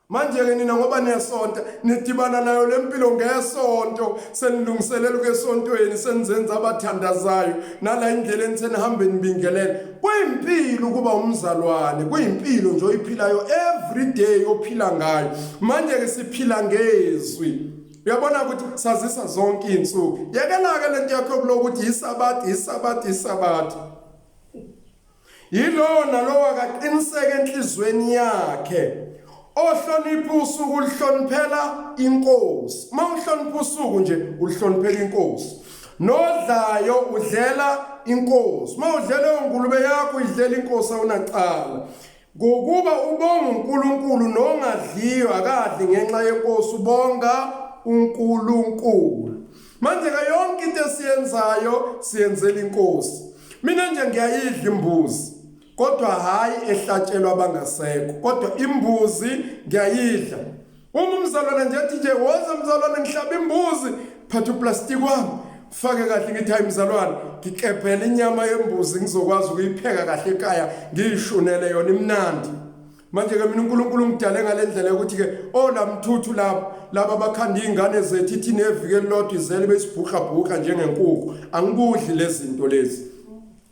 manje-ke nina ngoba niyasonta nidibana nayo le mpilo ngesonto senilungiselela ukuya esontweni senizenza abathandazayo nala indlela enisenihambe nibingelela kuyimpilo ukuba umzalwane kuyimpilo nje oyiphilayo every day ophila ngayo manje-ke siphila ngezwi uyabona ukuthi sazisa zonke iy'nsuku yekelake le nto yakho yokulokuthi yisabathi yisabathi yisabathi Yilowo nalowo akaqiniseke enhlizweni yakhe ohlonipha usuku ulihloniphela inkosi. Uma uhlonipha usuku nje ulihloniphela inkosi. Nodlayo udlela inkosi. Uma udlela ongulube yakho idlela inkosi awunacala. Ngokuba ubonga uNkulunkulu nongadliyo akadli ngenxa yenkosi ubonga uNkulunkulu. Manje ke yonke into esiyenzayo siyenzela inkosi. Mina nje ngiyayidla imbuzi kodwa hayi ehlatshelwa abangasekho kodwa imbuzi ngiyayidla Uma umzalwane nje athi nje woza mzalwane ngihlaba imbuzi phatha uplastiki wami fake kahle ngithi hayi mzalwane ngikebhela inyama yembuzi ngizokwazi ukuyipheka kahle ekhaya ngiyishunele yona imnandi manje ke mina uNkulunkulu ngidale ngalendlela yokuthi ke olamthuthu oh, lapho laba bakhanda izingane zethu ithi nevike lodwa izele besibhuqa bhuqa njengenkukhu angikudli lezinto lezi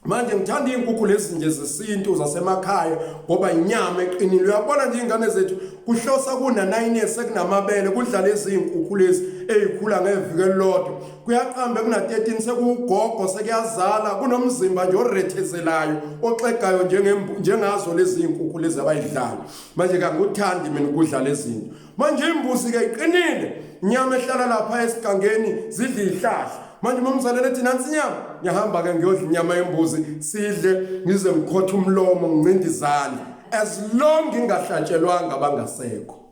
manje ngithanda iy'nkukhu lezi nje zesintu zasemakhaya ngoba inyama eqinile uyabona nje iy'ngane zethu kuhlosa kuna-nine years sekunamabele kudlala eziyinkukhu lezi ey'khula ngeviki elilodwa kuyaqambe kuna-13 sekuwugogo sekuyazala kunomzimba nje orethezelayo oxegayo njengazo lezi y'nkukhu lezi abayidlala manje kanguthandi mina ukudlala ezinto manje imbuzi ke iqinile nyama ehlala lapha esigangeni zidla ihlahla manje uma ngizalele thina nsinyama ngiyahamba ke ngiyodla inyama yembuzi sidle ngize ngikhothe umlomo ngincinde izandla as long ngingahlatshelwanga bangasekho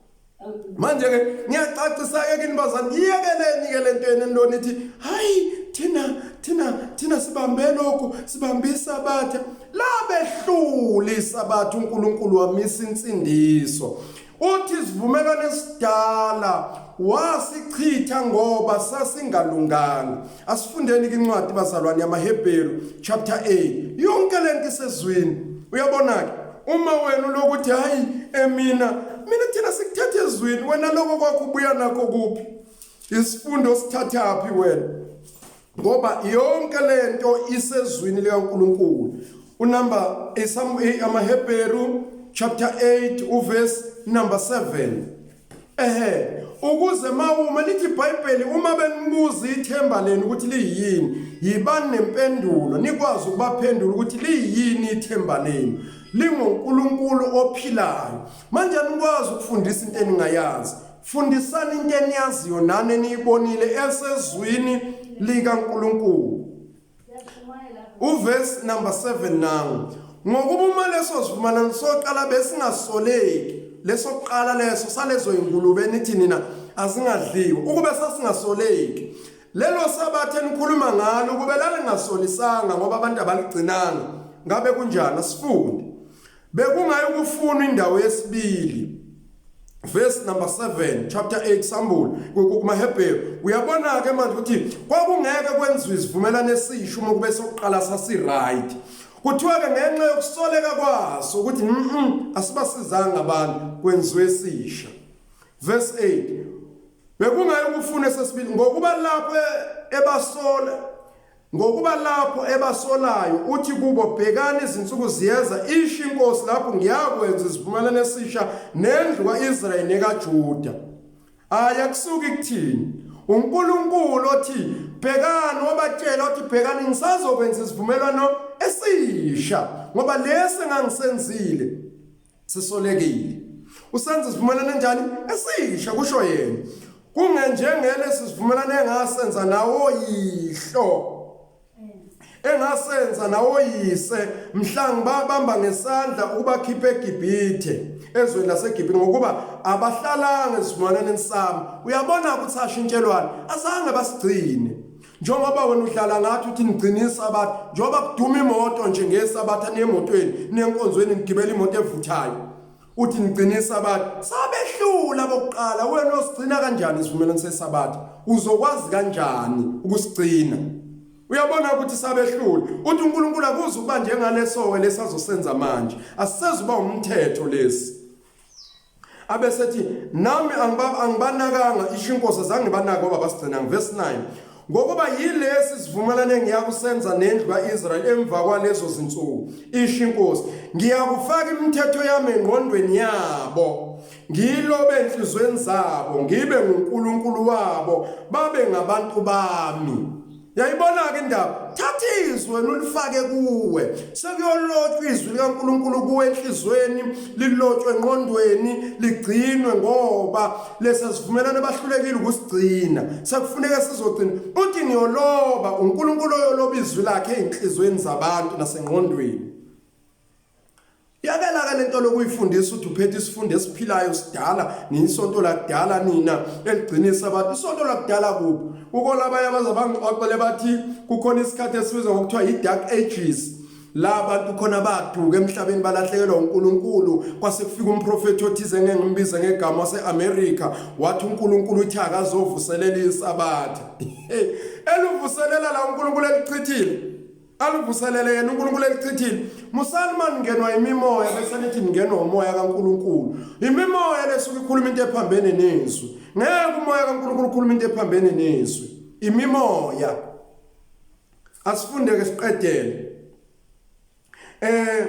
manje ke ngiyacacisa ke kini bazani iyekeleni ke lento yenu enilona ithi hayi thina thina thina sibambe lokhu sibambisa abathe labehluli sabathu uNkulunkulu wamisa insindiso Uthi isivumelwano esidala wasichitha ngoba sasingalunganga. Asifundeni incwadi bazalwane yamaHebheru chapter 8. Yonke lento isezwini. Uyabona ke uma wena lokuthi hayi emina eh, mina thina sikuthatha ezwini wena lokho kwakho ubuya nakho kuphi? Isifundo sithathaphi wena? ngoba yonke lento isezwini likaNkuluNkulu unumber amaHebheru chapter 8 uverse number 7 ehe ukuze mawuma lithi iBhayibheli uma benibuza ithemba lenu ukuthi liyini yibani nempendulo nikwazi ukubaphendula ukuthi liyini ithemba lenu linguNkulunkulu ophilayo manje anikwazi ukufundisa into eningayazi Fundisani into eniyaziyo nani eniyibonile esezwini likaNkulunkulu. Uverse number 7 nangu. Ngokuba uma leso sivumelwano soqala besingasoleki leso kuqala leso salezo ingulube nithi nina azingadliwa ukube sasingasoleki lelo sabathe nikhuluma ngalo ukube lalingasolisanga ngoba abantu abaligcinanga ngabe kunjani asifunde Bekungayikufunwa indawo yesibili verse number 7 chapter 8 sambulu kumaHebheru uyabona ke manje ukuthi kwakungeke kwenziwe isivumelwano esisho uma kube sokuqala sasi right kuthiwa ke ngenxa yokusoleka kwaso ukuthi mhm asibasizanga abantu kwenziwe esisha verse 8 bekungayo ukufuna sesibili ngokuba lapho ebasola Ngokuba lapho ebasolayo uthi kubo bhekani izinsuku ziyeza isho inkosi lapho ngiyakwenza isivumelwano esisha nendlu kaIsrayeli nekaJuda. Aya kusuka ikuthini? uNkulunkulu othi bhekani wabatshela othi bhekani ngisazokwenza isivumelwano esisha ngoba lesi engangisenzile sisolekile usenza isivumelwano enjani esisha kusho yena kungenjengele sisivumelwano engasenza nawo yihlo engasenza nawo yise mhla ngibabamba ngesandla ukubakhipha eGibhithe ezweni laseGibhithe ngokuba abahlalanga esivumelwaneni sami uyabona ukuthi ashintshelwana asange basigcine njengoba wena udlala ngathi uthi nigcina isabatha njengoba kuduma imoto nje ngesabatha nemotweni nenkonzweni nigibela imoto evuthayo uthi nigcina isabatha sabehlula bokuqala wena osigcina kanjani isivumelwano sesabatha uzokwazi kanjani ukusigcina uyabona ukuthi sabehlula uthi uNkulunkulu akuze ukuba njengalesowe lesazosenza manje asisezuba umthetho lesi abesethi nami angibanakanga isho inkosi azange banake obaba sigcina ngivesi 9 ngokuba yilesi sivumelane ngiyakusenza nendlu ka-israyeli emva kwalezo zinsuku isho inkosi ngiyakufaka imithetho yami engqondweni yabo ngiyilobe enhlizweni zabo ngibe ngunkulunkulu wabo babe ngabantu bami Yayibona-ke indaba, thatha izwi wena ulifake kuwe, sekuyolotshwa izwi likaNkulunkulu kuwe enhlizweni, lilotshwe engqondweni, ligcinwe ngoba lesa sivumelwano bahlulekile ukusigcina, sekufuneka sizogcina. Uthi ngiyoloba, uNkulunkulu oyoloba izwi lakhe ezinhlizweni zabantu nasengqondweni. Yakelaka lento lokuyifundisa uthi uphethe isifundo esiphilayo sidala niyisonto lakudala nina eligcinisa abantu isonto lakudala kuphi kukhona abanye abaze bangixoxele bathi kukhona isikhathi esibizwa ngokuthiwa yi-dark ages la bantu khona baduka emhlabeni balahlekelwa uNkulunkulu kwase kufika umprofeti othize ngeke ngimbize ngegama waseAmerica wathi uNkulunkulu uthi akazovuselela isabatha eluvuselela la uNkulunkulu elichithile aluvuselele yena uNkulunkulu elichithile musani mani ngenwa imimoya bese nithi ningenwa umoya kaNkulunkulu imimoya lesuke ikhuluma into ephambene nezwi ngeke umoya kaNkulunkulu ukhuluma into ephambene nezwi imimoya asifundeke siqedele eh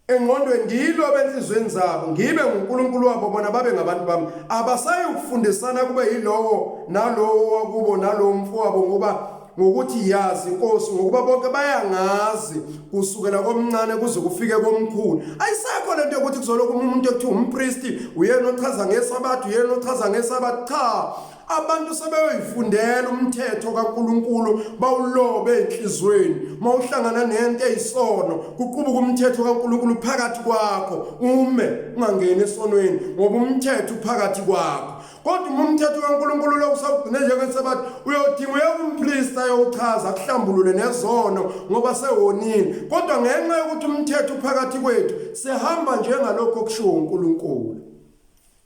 engqondweni ngiyilobe enhlizweni zabo ngibe nguNkulunkulu wabo bona babe ngabantu bami abasayi ukufundisana kube yilowo nalowo wakubo nalowo mfowabo ngoba ngokuthi yazi inkosi ngokuba bonke bayangazi kusukela komncane kuze kufike komkhulu ayisekho lento yokuthi kuzoloku umuntu ekuthiwa umpristi uyena ochaza ngesabatha uyena ochaza ngesabatha cha abantu sebeyoyifundela umthetho kaNkuluNkulu bawulobe enhlizweni mawuhlangana nento eyisono kuqubuka umthetho kaNkuluNkulu phakathi kwakho ume ungangeni esonweni ngoba umthetho phakathi kwakho kodwa uma umthetho kaNkuluNkulu lo usawugcine njengesabathi uyodinga uyekumprista yochaza kuhlambulule nezono ngoba sewonile kodwa ngenxa yokuthi umthetho phakathi kwethu sihamba njengalokho kushiwo uNkuluNkulu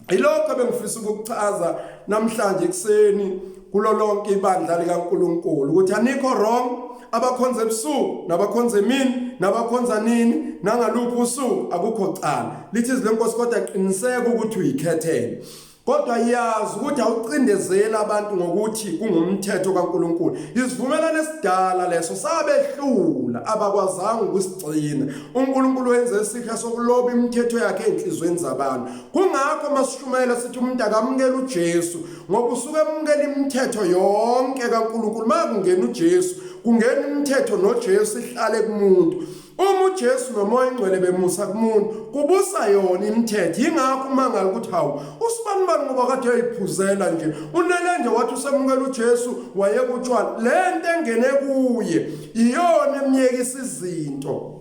Ilokho bengifisa ukukuchaza namhlanje ekuseni kulo lonke ibandla likaNkuluNkulu ukuthi anikho wrong abakhonza ebusuku nabakhonza emini nabakhonza nini nangaluphi usuku akukho cala lithi izwi lenkosi kodwa qiniseka ukuthi uyikhethele kodwa yazi ukuthi awucindezeli abantu ngokuthi kungumthetho kaNkuluNkulu isivumelwano esidala leso sabehlula abakwazanga ukusigcina uNkuluNkulu wenze isihle sokuloba imithetho yakhe enhlizweni zabantu kungakho masishumayela sithi umuntu akamukela uJesu ngoba usuke emukela imithetho yonke kaNkulunkulu makungena uJesu kungena imithetho noJesu ihlale kumuntu uma uJesu nomoya ingcwele bemusa kumuntu kubusa yona imithetho ingakho uma ngale ukuthi hawu usibani bani ngoba kade uyiphuzela nje unele nje wathi usemukela uJesu wayekutshwala lento engene kuye iyona emyekisa izinto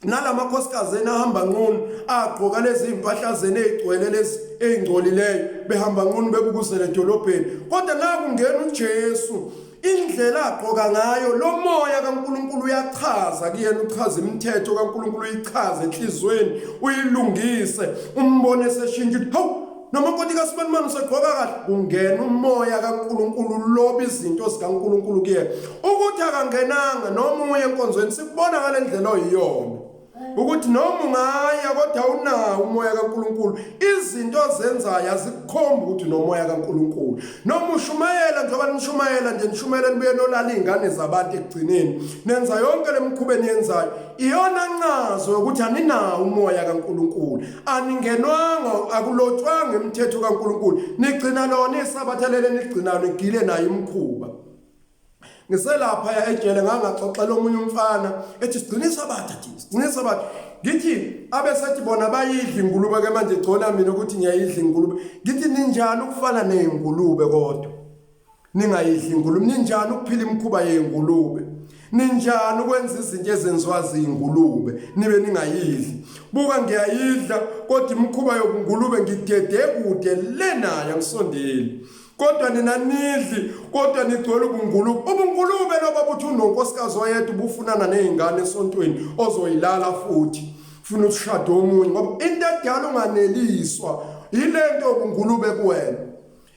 nalamakhosikazi enahamba nqunu agqoka lezi mpahla zene ezigcwele lezi ezingcolileyo behamba nqunu bebukuzela edolobheni kodwa nakungena uJesu indlela agqoka ngayo lo moya kaNkuluNkulu uyachaza kuyena uchaza imithetho kaNkuluNkulu uyichaza enhlizweni uyilungise umbone seshintsha hawu noma unkoti kasibanimani usegqoka kahle kungena umoya kaNkuluNkulu loba izinto zikaNkuluNkulu kuye ukuthi akangenanga noma uye enkonzweni sikubona ngale ndlela oyiyona ukuthi noma ungaya kodwa unawo umoya kaNkuluNkulu izinto ozenzayo azikukhombi ukuthi nomoya kaNkuluNkulu noma ushumayela njengoba nishumayela nje nishumayela nibuye nolala izingane zabantu ekugcineni nenza yonke lemkhuba eniyenzayo iyona ncazo ukuthi aninawo umoya kaNkuluNkulu aningenwanga akulotshwanga imithetho kaNkuluNkulu nigcina lona isabatha lele nigcina nigile naye imkhuba ngiselapha ya ejele ngangaxoxela omunye umfana ethi sigcinisa abatha thina sigcinisa abatha ngithi abesethi bona bayidla ingulube ke manje gcona mina ukuthi ngiyayidla ingulube ngithi ninjani ukufana nezingulube kodwa ningayidli ingulube ninjani ukuphila imikhuba yengulube ninjani ukwenza izinto ezenziwa ziyingulube nibe ningayidli buka ngiyayidla kodwa imikhuba yobungulube ngigede kude le nayo angisondeli kodwa nina nidli kodwa nigcwele ubungulube ubungulube loba buthi unonkosikazi oyedwa ubufunana nezingane esontweni ozoyilala futhi funa ushado omunye ngoba into edala unganeliswa yilento ubungulube kuwena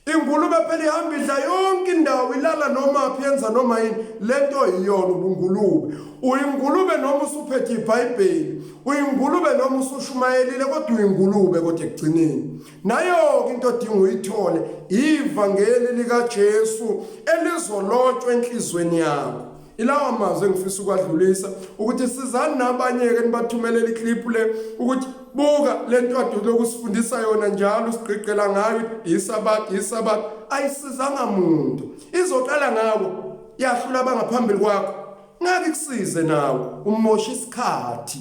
Ingulube phela ihamba idla yonke indawo ilala noma phi yenza noma yini lento iyona ubungulube uyingulube noma usuphethe ibhayibheli uyingulube noma usushumayelile kodwa uyingulube kodwa ekugcineni nayo-ke into odinga uyithole ivangeli likajesu elizolotshwa enhliziyweni yakho ilawa mazwi engifisa ukwadlulisa ukuthi sizani nabanye-ke nibathumelela iklipu le ukuthi buka le ntwadi lokusifundisa yona njalo sigqigqela ngayo isabat isabat ayisizanga muntu izoqala ngawo yahlula abangaphambili kwakho ngake kusize nawe umosha isikhathi